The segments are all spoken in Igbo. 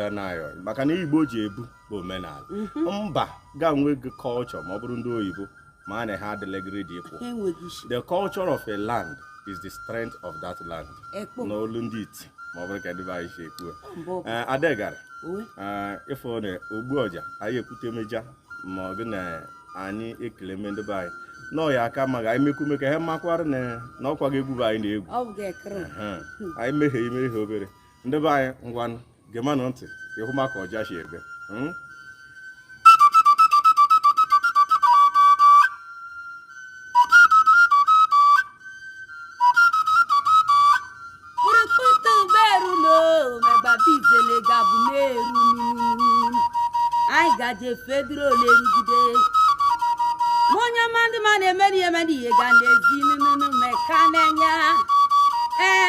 ọdịnaya maka na ihe igbo ji ebu bụ omenala mhm. mba ga nwegị kọlchọ ma ọ bụrụ ndị oyibo ma a na ha adịlegịrị dị ikwu the culture of a land is the strength of that land n'olu ndị iti ma ọ bụrụ ka ndị be anyị si ekwu eh, adegara eh, ịfụ na ogbu ọja anyị ekwuteme ọja ma ọ bụ na anyị ekeleme ndị be anyị na ọ ya aka mma anyị mekwume ka ha makwara na ọkwagị egwu bụ anyị na-egwu anyị mehie imehie obere ndị be anyị ngwanụ gemanụ ntị ka ị hụ ma ka ọja si ebe hmm? gaje fedro olerugide onye ọma ndị ma na-emeri emeri ihe ga na-ezi nụnụnụ meka n'anya ee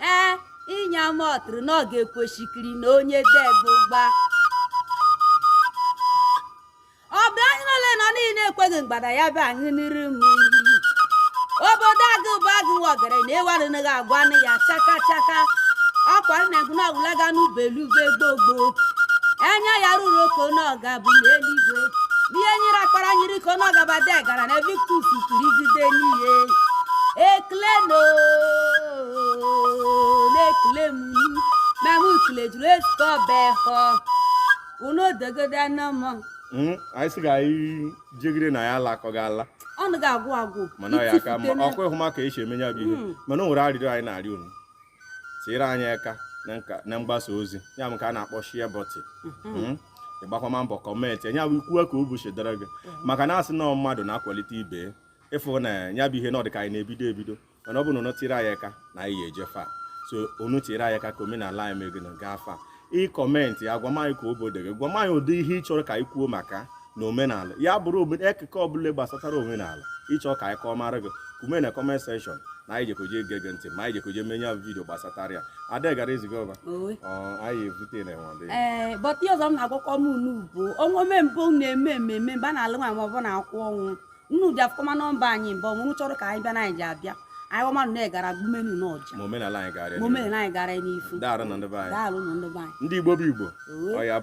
ee inye ama ọtụrụ na ọ ga-ekwesikiri na onye debe ụgba ọ bụ anyị nọle na niile ekweghị mgbada ya bụ anyị n'iru m iyi obodo agụ bụ agụ nwa ọgara na ewarịnaghị agwa nụ ya chaka chaka ọkwa nna gị na ọgwụlaga n'ubelube gbogbo enye ya ruru oko na ọga bụ n'eluigwe ihe nyere akpara nyiri ka na ọgaba dị gara na victus kirigide n'ihe ekele unu na-ekele m ma m kele juru ezukọ ọba ehọ unu odogodo anọ m Hmm, anyị sị ka anyị jegide na ya ala akọ ga ala ọnụ ga-agwụ agwụ mana ọ ya aka mma itifute ọkwa ị hụ ma ka e si eme ya bụ ihe Mm. mana o nwere arịrịọ anyị na-arịọ unu tinyere anyị aka na mgbasa ozi ya bụ nke a na-akpọ share button ịgbakwama mbọ kọmentịa nya bụ ikwuwe ka obi si dara gị maka na a sị na mmadụ na-akwalite ibe ya ịfụ na ya bụ ihe na ọ dị ka anyị na-ebido ebido mana ọ bụ na unu tiri anyị aka na anyị ga-eje far so unu tiri anyị aka ka omenala anyị mere na gaa far ịkọmentị ya gwama anyị ka obodo gị gwama anyị ụdị ihe ị chọrọ ka anyị kwuo maka na omenala ya bụrụ akụkọ ọbụla gbasatara omenala ị chọọ ka anyị kọọ mara gị kwume na comment section na anyị jekoje ege gị ntị ma anyị jekoje eme nya bụ vidio gbasatara ya adegara eziga ọba anyị evute na enwe ee but ihe ọzọ m na-agwakọ m unu bụ o nwee mgbe unu na-eme ememe mgbe a na-alụ nwa ma ọ bụ na-akwa ọnwụ unu ja-afụkọma nọmba anyị mgbe ọbụ unu chọrọ ka anyị bịa na anyị ja-abịa anyị ọma nụ na-egara gbumenụ unu ọja ma omenala anyị gara ma omenala anyị gara n'ifu daarụ nụ ndị be anyị daalụ nụ ndị be anyị ndị igbo bụ igbo Owe. ọ ya